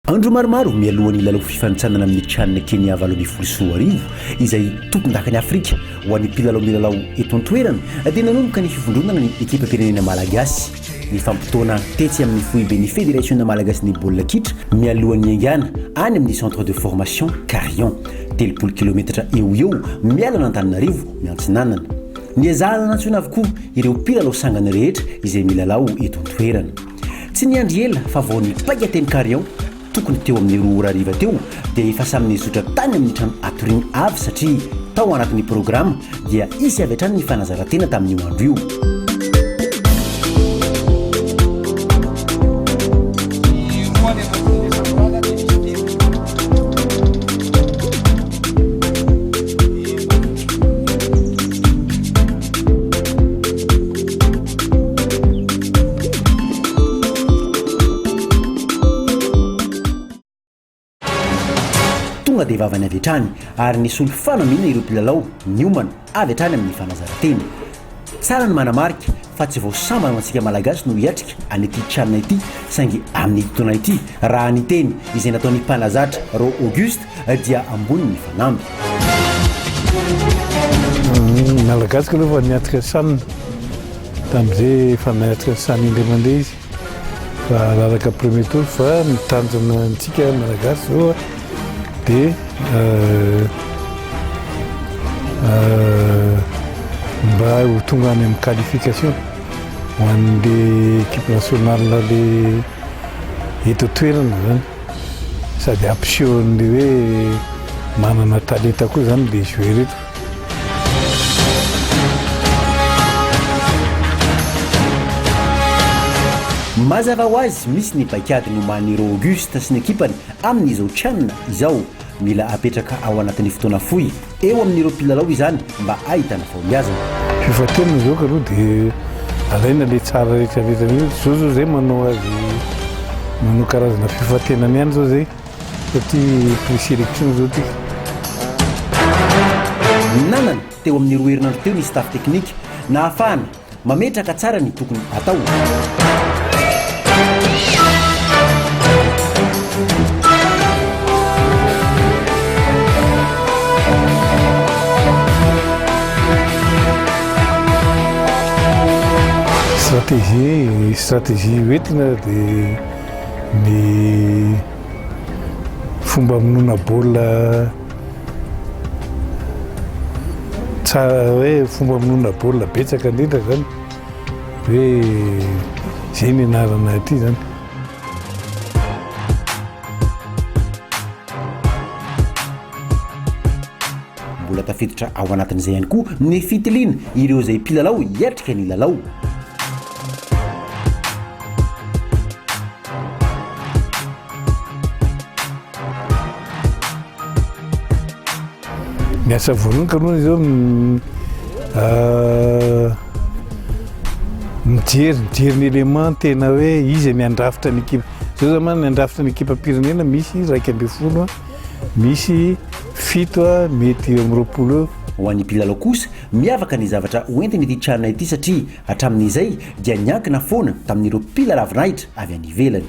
Andro maromaro mialoha ny lalao fifanintsanana amin'ny Chan Kenya valo ambin'ny folo sy roa arivo, izay tompondakan'i Afrika ho an'ny mpilalao milalao eto an-toerana, dia nanomboka ny fivondronana ny ekipam-pirenena malagasy. Nifampitaona tetsy amin'ny foiben'ny Federasiona malagasin'ny baolina kitra mialohan'ny haingana any amin'ny Centre de Formation Carion, telopolo kilometatra eo ho eo miala an'Antananarivo Miantsinanana. Niezahana nantsoina avokoa ireo mpilalao sangany rehetra izay milalao eto an-toerana. Tsy niandry ela fa vao nipaika teny Carion, tokony teo amin'ny roa ora hariva teo, dia efa samy nizotra tany amin'ny trano hatoriany avy satria tao anatin'ny programa dia hisy avy hatrany ny fanazarantena tamin'io andro io. Tonga dia vavany avy hatrany ary nisolo fanamiana ireo mpilalao niomana avy hatrany amin'ny fanazarantena. Tsara ny manamarika fa tsy vao sambany ho antsika Malagasy no hiatrika an'ity can ity saingy amin'ity taona ity raha ny teny izay nataon'ny mpanazatra Rô August dia ambony ny fanamby. Ny Malagasy aloha efa niatrika sanina tamin'izay efa niatrika saina indray mandeha izy fa raraka premier tour fa ny tanjona antsika Malagasy zao dia mba ho tonga any amin'ny qualification ho an'le équipe nationale le eto toerana zany. Sady hampiseho an'ilay hoe manana talenta koa izany dia jouer ireto. Mazava ho azy, misy ny paik'ady nomanin'i Rô Auguste sy ny ekipany amin'izao Chan izao. Mila apetraka ao anatin'ny fotoana fohy eo amin'ireo mpilalao izany mba ahitana fahombiazana. Fifantenana izao ka aloha dia alaina ilay tsara rehetra rehetra mihitsy. Izao izao izay manao azy, manao karazana fifantenana ihany izao izay satria pre-selection izao ity. Ny nanana teo amin'ny roa herinandro teo ny staff teknika nahafahana Mametraka tsara ny tokony atao. Stratégie, ny stratégie hoentina dia ny fomba hamonoana baolina. Tsara hoe fomba monona baolina betsaka indrindra izany hoe izay ny anarana ity izany. Mbola tafiditra ao anatin'izay ihany koa ny fitiliana ireo izay mpilalao hiatrika ny lalao. Ny asa voalohany kaloha izao ah, mijery mijery ny élément tena hoe izy ny andrafitra ny ekipa zao zany ny andrafitra ny ekipa pirenena misy raika ambin'ny folo misy fito mety eo amin'ny roapolo Ho an'ny mpilalao kosa, miavaka ny zavatra hoentin'ity tranona ity satria hatramin'izay dia niankina foana tamin'ireo mpila lavinahitra avy any ivelany.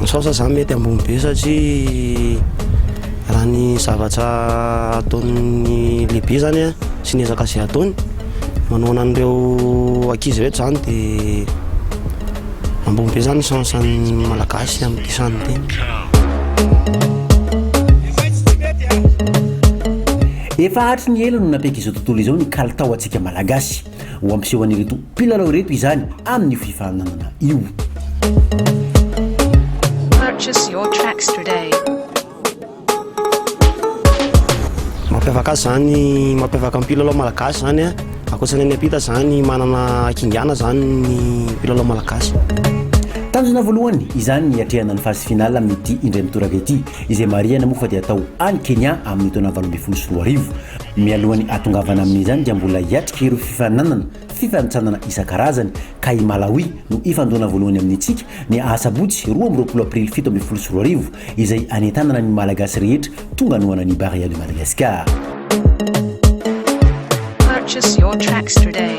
Misaotra za mety ambony be satria raha ny zavatra ataon'ny lehibe zany a sy ny ezaka izay ataony manohana an'ireo ankizy rehetra zany dia Ambony be zany chance an'ny malagasy amin'ity samy teny. Efa hatry ny ela no nampiaiky izao tontolo izao ny kalitao antsika malagasy. Ho hampiseho an'ireto mpilalao ireto izany amin'io fifaninanana io. Purchase your tracks today. Mampiavaka azy zany, mampiavaka ny mpilalao malagasy zany a, ankoatrany any am-pita zany manana kingana zany ny mpilalao malagasy. Tanjona voalohany izany ny hiatrehana ny phase finale amin'ity indray mitoraka ity izay marihana moa fa dia atao any Kenya amin'ny taona valo ambin'ny folo sy roa arivo. Mialohan'ny hahatongavana amin'izany dia mbola hiatrika ireo fifaninanana Fifanintsanana isan-karazany, ka i Malawi no hifandona voalohany amintsika ny asabotsy roa amby roapolo aprily fito ambin'ny folo sy roa arivo, izay hanentanana ny Malagasy rehetra tonga hanohana ny Barea de Madagascar. Purchase your tracks today.